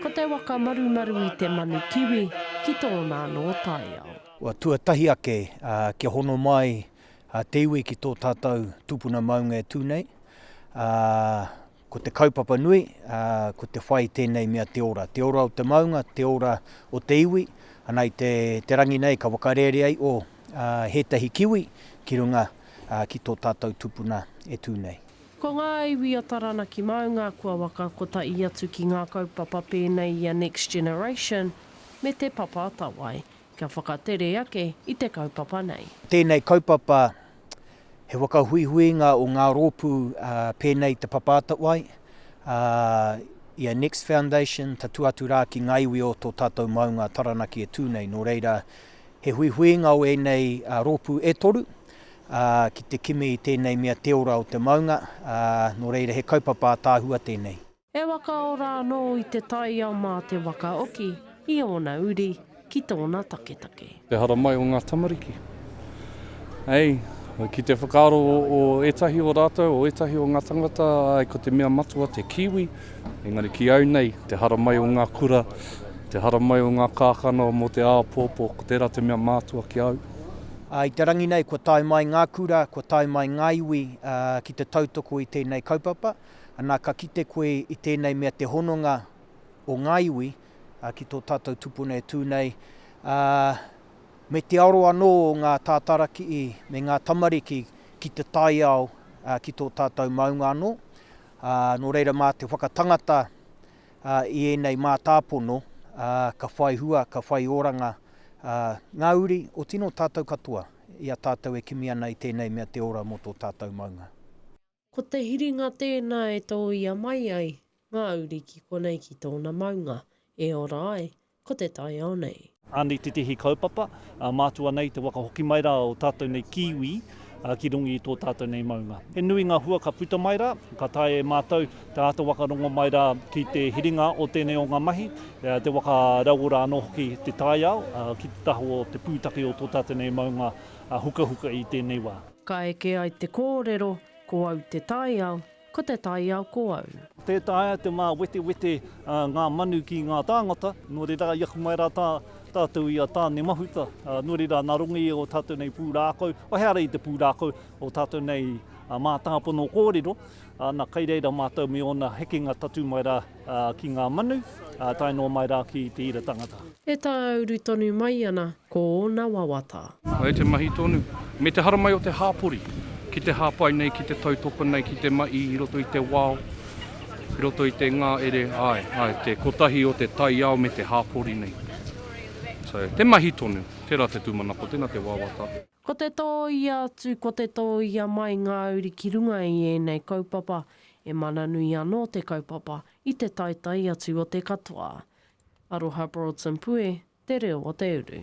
Ko te waka marumaru i te manu kiwi ki tōna anō taiao. Kua tuatahi ake kia hono mai te iwi ki tō tātou tūpuna maunga e tū nei. Ko te kaupapa nui, ko te whai tēnei mea te ora. Te ora o te maunga, te ora o te iwi. Ana i te rangi nei ka whakarērea i o hētahi kiwi ki runga ki tō tātou tūpuna e tū nei. Ko ngā iwi a Taranaki Maunga kua waka kotahi atu ki ngā kaupapa pēnei i a Next Generation me Te Papa Atawai, kia whakatere ake i te kaupapa nei. Tēnei kaupapa, he whakahuihuinga o ngā rōpū pēnei i Te Papa Atawai, i a Next Foundation, tatū atu rā ki ngā iwi o tō tātou maunga Taranaki e tū nei, nō reira, He huihuinga o ēnei rōpū e toru ki te kimi i tēnei mea te ora o te maunga, nō reira he kaupapa ataahua tēnei. E whakaora anō i te taiao mā te waka oki i ōna uri ki tōna taketake. Te hara mai o ngā tamariki. Hei, ki te whakaaro o ētahi o rātou, o ētahi o ngā tangata, ko te mea matua te kiwi. Engari ki au nei, te haramai o ngā kura, te haramai o ngā kākano mō te āpōpō, ko tērā te mea mātua ki au. I te rangi nei, kua tae mai ngā kura, kua tae mai ngā iwi ki te tautoko i tēnei kaupapa. Anā, ka kite koe i tēnei mea te hononga o ngā iwi ki tō tātou tupuna e tū nei, me te aro anō o ngā tātarakiī me ngā tamariki ki te taiao ki tō tātou maunga anō. Nō reira mā te whakatangata i ēnei mātāpono ka whai hua, ka whai oranga ngā uri o tino tātou katoa i a tātou e kimi ana i tēnei mea te ora mō tō tātou maunga. Ko te hiringa tēnā e tōia mai ai ngā uri ki konei ki tōna maunga, e ora ai, ko te taiao nei. Anei tētehi kaupapa, mātua nei te waka hoki mai rā o tātou nei Kiwi ki runga i tō tātou nei maunga. He nui ngā hua ka puta mai rā, ka taea e mātou te āta waka rongo mai rā ki te hiringa o tēnei o ngā mahi, te waka rauora anō hoki te taiao ki te taha o te pūtake o tō tātou nei maunga hukahuka i tēnei wā. Ka eke ai te kōrero, ko au te taiao, Ko te taiao ko au. Tē taea te māwetewete ngā manu ki ngā tāngata, nō reira i aku mai rā tātou i a Tāne Mahuta, nō reira nā runga i ō tātou nei pūrākau, waihaere i te pūrākau, ō tātou nei mātāpono kōrero, ana kai reira mātou me ōna hekenga tatū mai rā Ā, ki ngā manu, ā, tae noa mai rā ki te ira tangata. E tāuru tonu mai ana ko ōna wawata. Ai te mahi tonu, me te haramai o te hāpori, ki te hāpai nei, ki te tautoko nei, ki te ma i, i roto i te wao, i roto i te ngā ere, āe, āe, te kotahi o te taiao me te hāpori nei. So, te mahi tonu, tērā te tūmanako, tēnā te wawata. Ko te tōia atu, ko te tōia mai ngā uri ki runga i ēnei kaupapa, e mana nui anō te kaupapa i te taetae atu o te katoa. Aroha Broadson Pue, Te Reo o te Uru.